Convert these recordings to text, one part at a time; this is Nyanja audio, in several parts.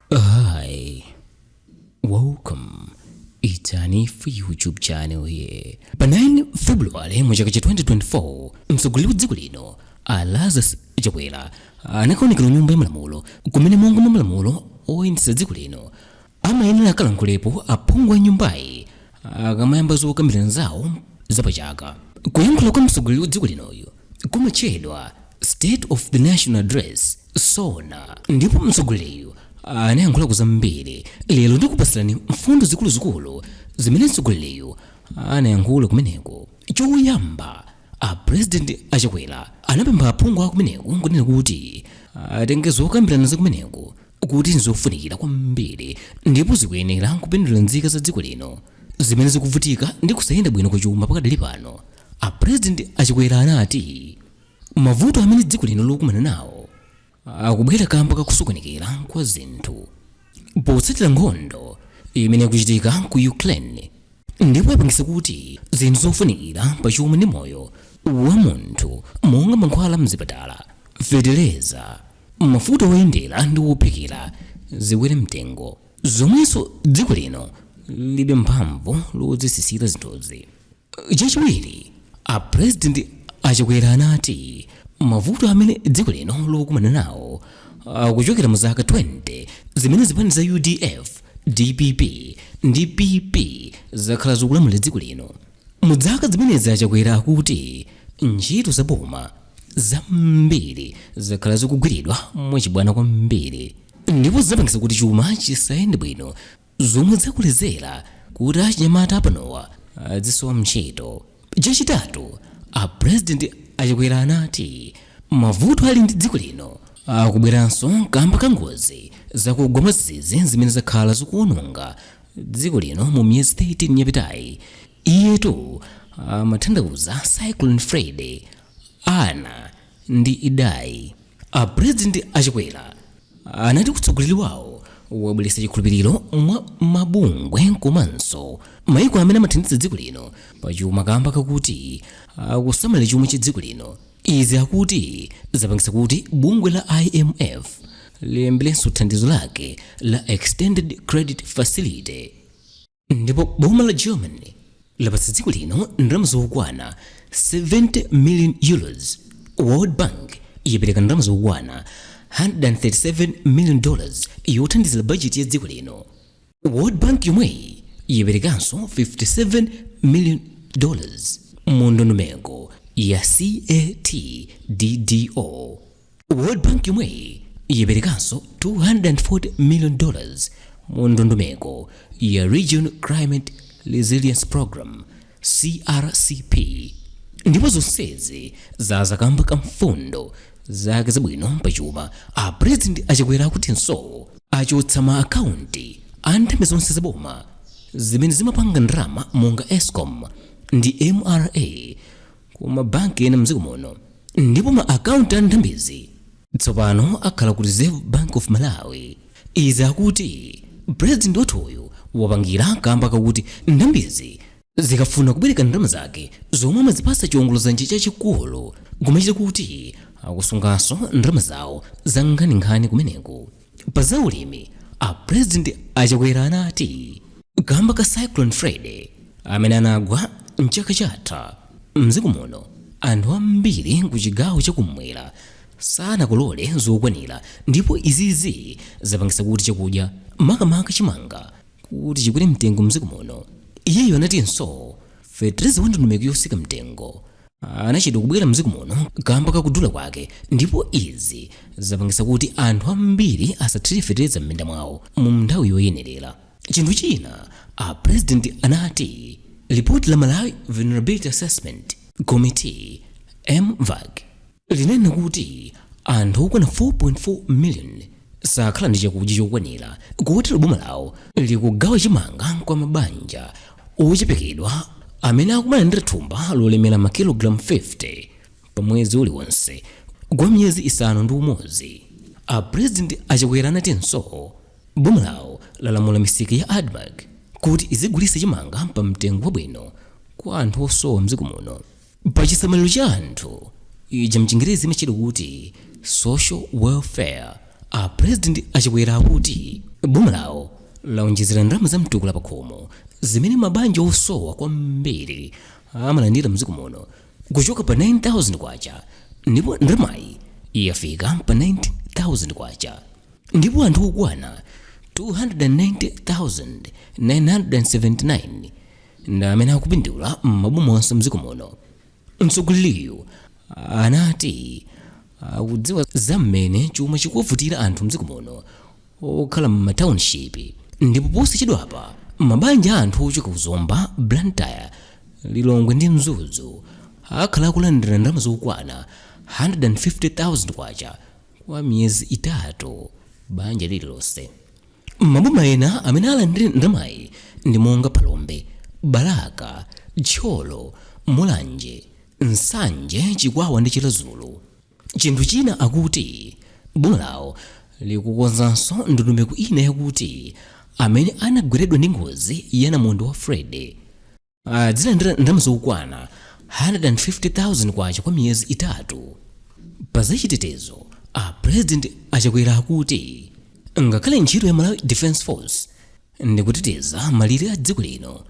Hi, welcome. Itani for YouTube channel here. Pa 9 February mu chaka cha 2024, mtsogoleri wa dziko lino a Lazarus Chakwera anakaonekera ku nyumba ya malamulo kumene monga mwa malamulo oyendetsa dziko lino amayenera akalankhulepo aphungu a nyumbayi akamayamba zokambirana zawo zapachaka kuyankhula kwa mtsogoleri wa dziko linoyu kumatchedwa state of the national address sona ndipo mtsogoleriyu anayankhulako zambiri lero ndikupatsirani mfundo zikuluzikulu zimene mtsogoleriyu anayankhula kumeneko choyamba a president a Chakwera anapempha aphungu akumeneko nkunena kuti atenge zokambirana zakumeneko kuti nzofunikira kwambiri ndipo zikuyenera kupindulira nzika za dziko lino zimene zikuvutika ndi kusayenda bwino kwa chuma pakadali pano a president a Chakwera anati mavuto amene dziko lino likukumana nawo akubwera kamba kakusokonekera kwa zinthu potsatira nkhondo imene ikuchitika ku ukraine ndipo yapangisa kuti zinthu zofunikira pa chuma ndi moyo wa munthu monga mankhwala mzipatala feteleza Mafuta oyendera ndi ophikira zikwere mtengo zomwenso dziko lino lilibe mphamvu lodzisisira zinthuzi. Chachiwiri, a President a Chakwera anati mavuto amene dziko lino likukumana nawo akuchokera mu zaka 20 zimene zipani za udf, dpp ndi PP zakhala zikulamulira dziko lino. Mu zaka zimenezi a Chakwera akuti ntchito za boma zambiri zakhala zikugwiridwa mwachibwana kwambiri ndipo zapangisa kuti chuma chisayende bwino zomwe zakolezera kuti achinyamata apanowa azisowa ntchito. Chachitatu, a President a Chakwera anati mavuto ali ndi dziko lino akubweranso kamba ka ngozi zakugwa mwadzidzidzi zimene zakhala zikuononga dziko lino mu miyezi 13 yapitayi. Iyetu amatanthauza Cyclone Freddy, Ana ndi Idai. A President a Chakwera anati utsogoleri wawo wabweretsa chikhulupiriro mwa mabungwe komanso maiko amene amathandiza dziko lino pa chuma kamba kakuti akusamalira chuma cha dziko lino. Izi akuti zapangitsa kuti bungwe la IMF liyambirenso thandizo lake la Extended Credit Facility ndipo boma la Germany lapatsa dziko lino ndalama zokwana 70 million euros. World Bank yapereka ndalama zokwana 137 million dollars yothandizira bajeti ya dziko lino. world bank yomweyi yiperekanso 57 million dollars mu ndondomeko ya catddo world bank yomweyi yiperekanso 240 million dollars mu ndondomeko ya regional climate resilience program crcp ndipo zonsezi zaza kamba ka mfundo zake zabwino pachuma a president a chakwera akutinso achotsa ma akaunti a nthambi zonse zaboma zimene zimapanga ndalama monga escom ndi mra ku mabanki ena mdziko muno ndipo ma akaunti a nthambizi Tsopano akhala ku Reserve Bank of Malawi. Izi akuti President wathuyu wapangira kamba kakuti nthambizi zikafuna kubwereka ndalama zake zomwe amadzipatsa chiongoladzanja chachikulu kumachita kuti akusunganso ndalama zawo za nkhaninkhani kumeneko. Pa za ulimi, a President a Chakwera anati kamba ka Cyclone Freddy amene anagwa mchaka chatha, mdziko muno anthu ambiri ku chigawo cha kummwera sanakolole zokwanira ndipo izizi zapangitsa kuti chakudya makamaka chimanga kuti chikwere mtengo mdziko muno. Iyeyo anatinso fetereza wa ndondomeko yotsika mtengo anachedwa kubwera mdziko muno kamba kakudula kwake ndipo izi zapangitsa kuti anthu ambiri asathire fetereza m'minda mwawo mu nthawi yoyenerera chinthu china a president anati lipoti la malawi vulnerability assessment committee mvac linanena kuti anthu okwana 4.4 miliyoni sakhala ndi chakudya chokwanira kotero boma lawo likugawa chimanga kwa mabanja ochepekedwa amene akumalandira thumba lolemera makilogalamu 50 pa mwezi uliwonse kwa miyezi isanu ndi umodzi apurezidenti a chakwera anatinso boma lawo lalamula misika ya admarc kuti izigulitsa chimanga pa mtengo wabwino kwa anthu osowa mdziko muno pa chisamaliro cha anthu ija mchingerezi imatchedwa kuti social welfare a president a chakwera akuti boma lawo laonjezera ndalama za mtukula pakhomo zimene mabanja osowa kwambiri amalandira mdziko muno kuchoka pa 9000 kwacha ndipo ndalamayi yafika pa 19000 kwacha ndipo anthu okwana 290979 ndi amene akupindula m'maboma onse mdziko muno mtsogoleriyu anati akudziwa za mmene chuma chikuvutira anthu mdziko muno okhala m'mataunship ndipo posachedwapa mabanja a anthu ochoka ku zomba blantyre lilongwe ndi mzuzu akhala akulandira ndalama zokwana 150,000 kwacha kwa miyezi itatu banja lililonse Maboma ena amene alandire ndalamayi ndi monga Phalombe, Balaka, Thyolo, Mulanje, Nsanje, Chikwawa ndi Chiradzulu. Chinthu china akuti boma lawo likukonzanso ndondomeko ina yakuti amene anagweredwa ndi ngozi ya namondwe wa Freddy, adzilandira ndalama zokwana 150,000 kwacha kwa miyezi itatu pa zachitetezo a president a Chakwera akuti ngakhale ntchito ya malawi defense force ndi kuteteza malire a dziko lino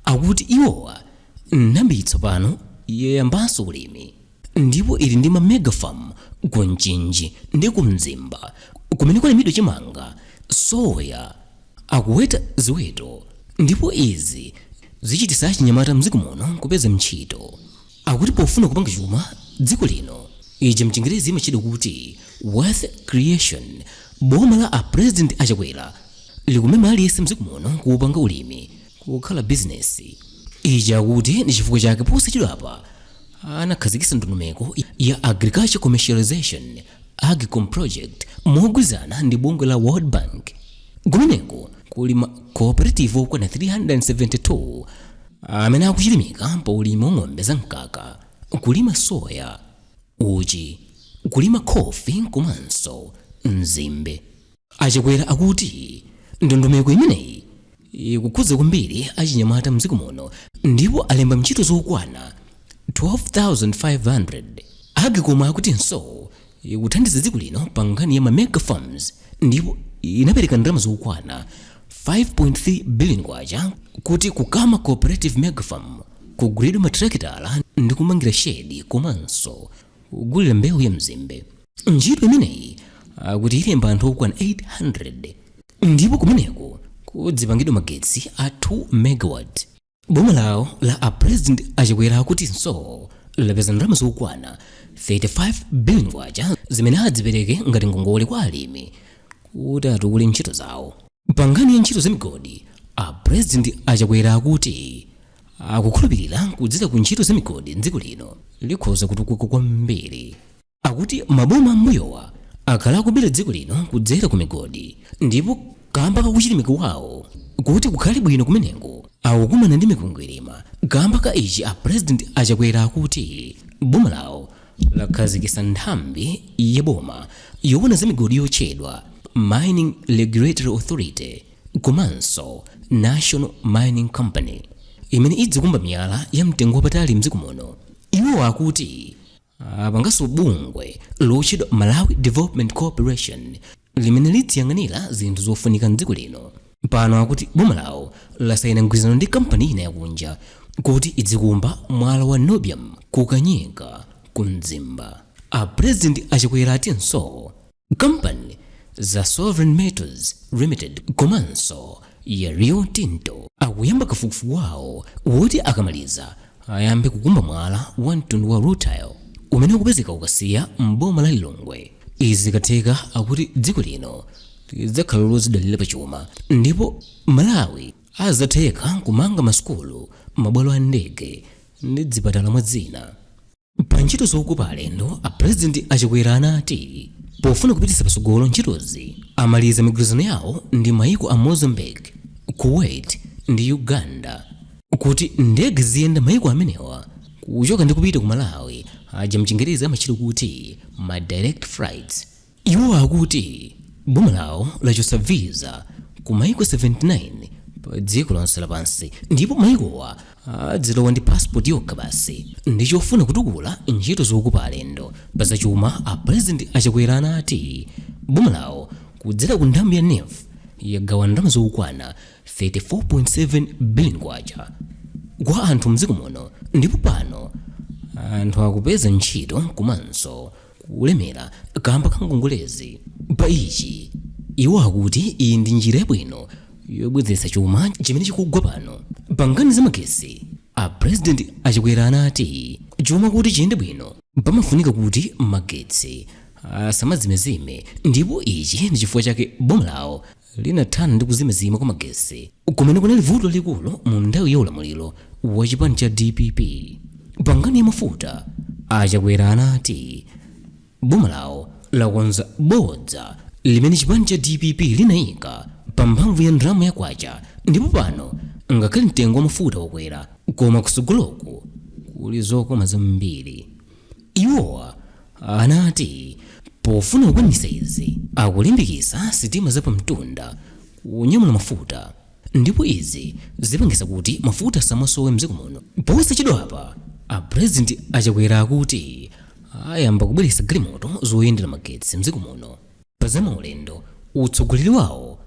akuti iwowa nthambiyi tsopano yayambanso ulimi ndipo ili ndi ma mega farm ku Mchinji ndi ku Mzimba kumene kwalimidwa chimanga soya akuweta ziweto ndipo izi zichititsa achinyamata mdziko muno kupeza ntchito akuti pofuna kupanga chuma dziko lino ichi mchingerezi imatchedwa kuti wealth creation boma la a president a Chakwera likumema aliyense mdziko muno kuupanga ulimi kukhala bizinesi ichi akuti ndi chifukwa chake posachedwapa anakhazikitsa ndondomeko ya agriculture commercialization agcom project mogwirizana ndi bungwe la world bank kumeneko kuli ma cooperative okwana 372 amene akuchilimika pa ulimi wa ng'ombe za mkaka kulima soya uchi kulima khofi komanso nzimbe A Chakwera akuti ndondomeko imeneyi ikukhudza kwambiri achinyamata mdziko muno ndipo alemba ntchito zokwana 12,500. Agcom akutinso ikuthandiza dziko lino pa nkhani ya ma mega farms ndipo inapereka ndalama zokwana 5.3 billion kwacha kuti ku Kama Cooperative Mega Farm kugulidwe matrakitala ndi kumangira shedi komanso kugulira mbewu ya nzimbe. ntchito imeneyi akuti ilemba anthu okwana 800 ndipo kumeneko kudzipangidwa magetsi a 2 megawatt boma lawo la a president a Chakwera akutinso lapeza ndalama zokwana 35 billion kwacha zimene adzipereke ngati ngongole kwa alimi kuti atukule ntchito zawo pa nkhani ya ntchito za migodi a president a Chakwera akuti akukhulupirira kudzera ku ntchito za migodi dziko lino likhoza kutukuka kwambiri akuti maboma a m'mbuyowa akhala akubera dziko lino kudzera ku migodi ndipo kamba ka kuchilimika kwawo kuti kukhale bwino kumeneko akukumana ndi mikwingwirima kamba ka ichi a president a Chakwera akuti boma lawo lakhazikitsa nthambi ya boma yowona za migodi yotchedwa mining regulatory authority komanso national mining company imene idzikumba miyala ya mtengo wapatali mdziko muno iwo akuti apanganso bungwe lotchedwa malawi development corporation limene lidziyang'anira zinthu zofunika mdziko lino pano akuti boma lawo lasayina mgwirizano ndi kampani ina yakunja kuti idzikumba mwala wa niobium ku Kanyika ku Mzimba a president a Chakwera atinso Kampani za Sovereign Metals Limited komanso ya Rio Tinto akuyamba kafukufuku wawo woti akamaliza ayambe kukumba mwala wa mtundu wa rutile umene ukupezeka ku Kasiya m'boma la Lilongwe. Izi zikatheka akuti dziko lino lidzakhala lodzidalira pa chuma ndipo Malawi azatheka kumanga masukulu, mabwalo a ndege ndi dzipatala mwa zina. pa ntchito zokopa alendo a pulezidenti a chakwera anati pofuna kupititsa patsogolo ntchitozi amaliza migwirizano yawo ndi maiko a mozambique kuwait ndi uganda kuti ndege ziyenda maiko amenewa kuchoka ndi kupita ku malawi aja mchingerezi amachita kuti ma direct flights Iwo akuti boma lawo lachotsa visa ku maiko 79 pa dziko lonse lapansi ndipo maikowa adzilowa ndi passport yokha basi ndi kufuna kutukula ntchito zokopa alendo. Pa zachuma, a President a Chakwera anati boma lawo kudzera ku nthambi ya NEEF yagawa ndalama zokwana 34.7 billion kwacha kwa anthu mdziko muno ndipo pano anthu akupeza ntchito komanso kulemera kamba ka ngongolezi. Pa ichi, iwo akuti iyi ndi njira yabwino yobwezeretsa chuma chimene chikugwa pano. Pa nkhani za magetsi, a President a Chakwera anati chuma kuti chiyende bwino pamafunika kuti magetsi asamazimezime ndipo ichi ndi chifukwa chake boma lawo linathana ndi kuzimazima kwa magetsi kumene kunali vuto lalikulu mu nthawi ya ulamuliro wa chipani cha dpp pa nkhani ya mafuta a chakwera anati boma lawo lakonza bodza limene chipani cha dpp linayika pa mphamvu ya ndalama ya kwacha ndipo pano ngakhale mtengo wa mafuta wakwera koma kusogoloku kuli zokoma zambiri Iwowa anati pofuna kukwanitsa izi akulimbikitsa sitima za pamtunda kunyamula mafuta ndipo izi zipangitsa kuti mafuta asamasowe mdziko muno. Posachedwapa a President a Chakwera akuti ayamba kubweretsa galimoto zoyendera magetsi mdziko muno. pa za maulendo utsogoleri wawo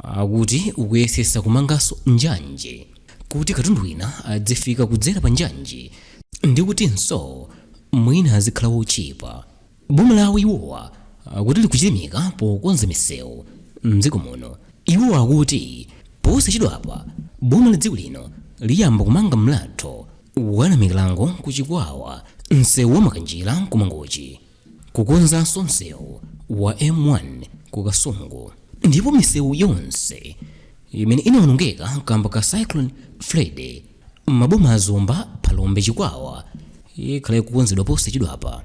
akuti ukuyesesa kumanganso njanje kuti katundu wina adzifika kudzera pa njanje ndi kutinso mwina azikhala wotchipa boma lawo iwowa akuti likuchilimika pokonza misewu mdziko muno iwowa akuti posachedwapa boma la dziko lino liyamba kumanga mlatho wa namikalango ku chikwawa msewu wa makanjira kumangochi kukonzanso msewu wa m1 ku kasungu ndipo misewu yonse imene inaonongeka kamba ka cyclone freddy m'maboma a zomba phalombe chikwawa ikhala ikukonzedwa posachedwapa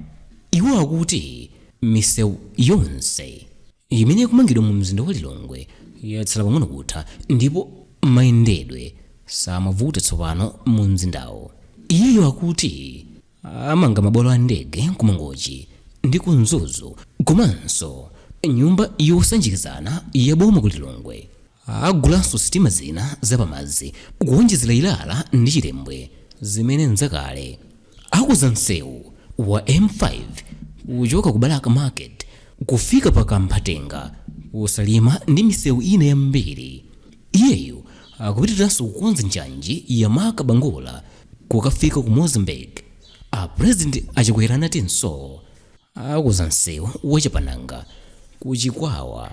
iwo akuti misewu yonse imene ikumangidwa mu mzinda wa lilongwe yatsala pang'ono kutha ndipo mayendedwe samavuta tsopano mu mzindawo iyeyo akuti amanga mabwalo a ndege ku mangochi ndi ku mzuzu komanso nyumba yosanjikizana ya boma ku lilongwe agulanso sitima zina zapamadzi kuwonjezera ilala ndi chilembwe zimene n'zakale akuza msewu wa m5 kuchoka ku balaka market kufika pa kamphatenga ku salima ndi misewu ina yambiri iyeyo akupitirizanso kukonza njanji ya marka bangula Kukafika ku Mozambique, a President a Chakwera anatinso akuza msewu wa Chapananga ku Chikwawa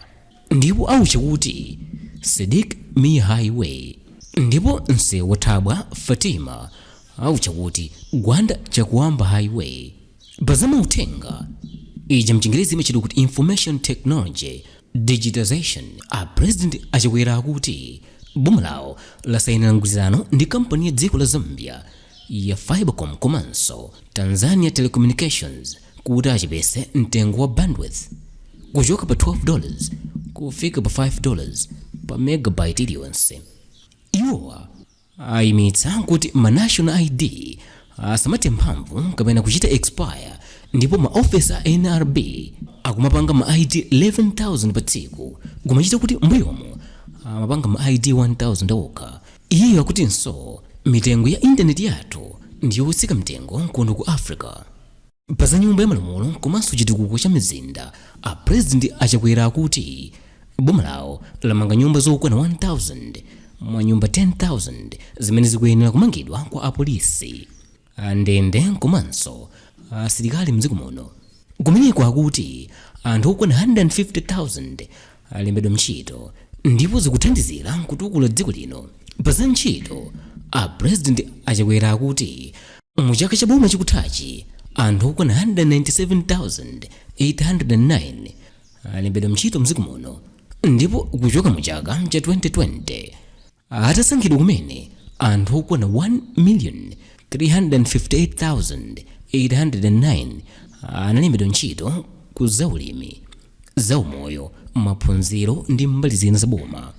ndipo autcha kuti Sidik Mia Highway ndipo msewu wa Thabwa Fatima autcha kuti Gwanda Chakuamba Highway. Pa za mauthenga, ija mchingerezi imatchedwa kuti information technology digitization, a President a Chakwera akuti boma lawo lasayinira mgwirizano ndi kampani ya dziko la Zambia ya Fibrecom komanso Tanzania Telecommunications kuti achepetse mtengo wa bandwidth kuchoka pa 12 dollars kufika pa 5 dollars pa megabyte iliyonse. Iwowa Ayimitsa kuti ma National ID asamathe mphamvu kapena kuchita expire ndipo ma ofesi a nrb akumapanga ma ID 11,000 pa tsiku kumachita kuti mmbuyomu amapanga ma ID 1,000 okha. Iyeyo akutinso mitengo ya intaneti yathu ndi yotsika mtengo kuno ku Africa. Pa za nyumba ya malamulo komanso chitukuko cha mizinda, a President a Chakwera akuti boma lawo lamanga nyumba zokwana 1000 mwa nyumba 10000 zimene zikuyenera kumangidwa kwa apolisi, andende komanso asilikali mdziko muno. Kumeneko akuti anthu okwana 150,000 alembedwa ntchito ndipo zikuthandizira kutukula dziko lino. Pa za ntchito, a President a Chakwera akuti mu chaka cha boma chikuthachi anthu okwana 197,809 alembedwa ntchito mdziko muno ndipo kuchoka mu chaka cha 2020 atasankhidwa kumene anthu okwana 1,358,809 analembedwa ntchito ku zaulimi za umoyo maphunziro ndi mbali zina za boma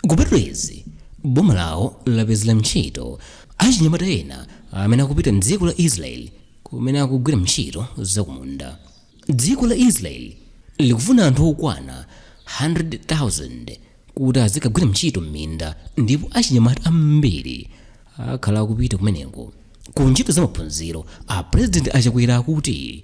kupatula izi boma lawo lapezera ntchito achinyamata ena amene akupita mdziko la israeli kumene akugwira ntchito zakumunda dziko la israeli likufuna anthu okwana 100,000 kuti azikagwira ntchito m'minda ndipo achinyamata ambiri akhala akupita kumeneko ku ntchito za maphunziro a president a chakwera akuti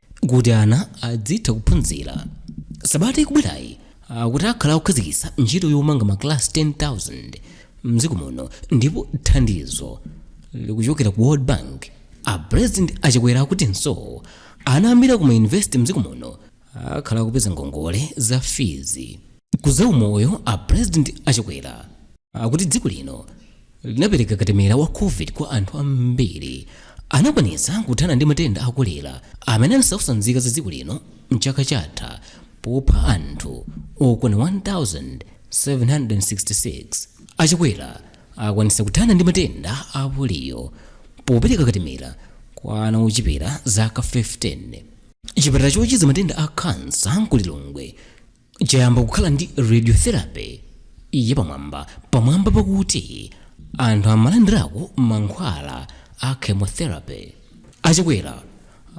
kuti ana adzitha kuphunzira. Sabata ikubwerayi akuti akhala akukhazikitsa ntchito yomanga makalasi 10,000 mdziko muno ndipo thandizo likuchokera ku World Bank. A President a Chakwera akutinso ana ambiri aku mayunivesite mdziko muno akhala akupeza ngongole za fizi. ku za umoyo a president a chakwera akuti dziko lino linapereka katemera wa covid kwa anthu ambiri anakwanitsa kuthana ndi matenda a kolera amene anasautsa nzika za dziko lino mchaka chatha popha anthu okwana 1766 a chakwera akwanitsa kuthana ndi matenda a poliyo popereka katemera kwa ana ochepera zaka 15 chipatala chochiza matenda a khansa ku lilongwe chayamba kukhala ndi radiotherapy yapamwamba pamwamba pakuti anthu amalandirako mankhwala a chemotherapy a chakwera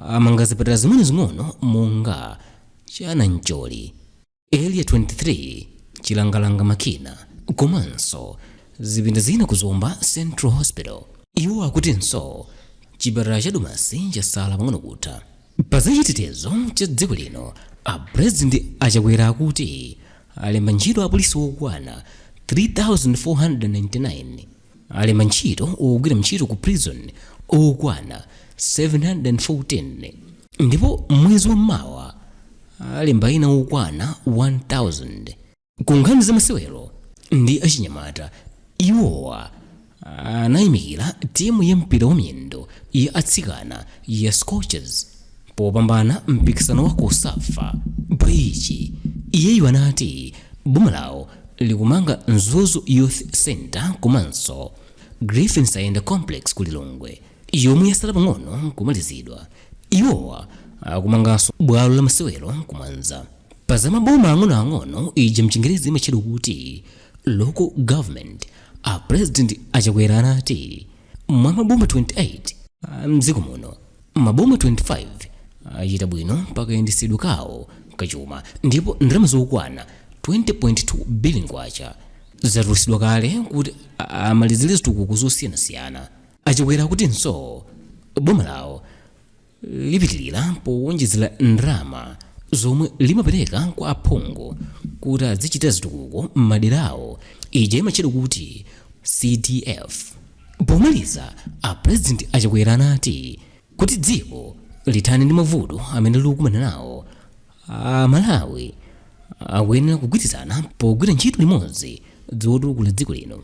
amanga zipatala zing'onozing'ono monga cha nancholi area 23 chilangalanga makina komanso zipinda zina ku zomba central hospital iwo akutinso chipatala cha domasi chasala pang'ono kutha Pa za chitetezo cha dziko lino, a President a Chakwera akuti alemba ntchito apolisi okwana 3,499, alemba ntchito ogwira ntchito ku prison okwana 714 ndipo mwezi wa mmawa alemba ena okwana 1,000. Ku nkhani za masewero ndi achinyamata, iwowa anayamikira timu ya mpira wa miyendo ya atsikana ya Scorchers popambana mpikisano wa cosafa. Pa ichi, iyeyu anati boma lawo likumanga Mzuzu Youth Centre komanso Griffin Saenda Complex ku Lilongwe. yomwe yasala pang'ono kumalizidwa iwowa akumanganso bwalo la masewero ku mwanza pa za maboma ang'onoang'ono ija mchingerezi imatchedwa kuti local government a president a chakwera anati mwa maboma 28 mdziko muno maboma 25 achita bwino pakayendetsedwe kawo kachuma ndipo ndalama zokwana 20.2 billion kwacha zatulutsidwa kale kuti a- amalizire zitukuko zosiyanasiyana achakwera akutinso boma lawo lipitirira powonjezera ndalama zomwe limapereka kwa aphungu kuti azichita zitukuko m'madera awo ija imatchedwa kuti cdf pomaliza a president achakwera anati kuti dziko lithane ndi mavuto amene likukumana nawo a malawi akuyenera kugwirizana pogwira ntchito limodzi zotukula dziko lino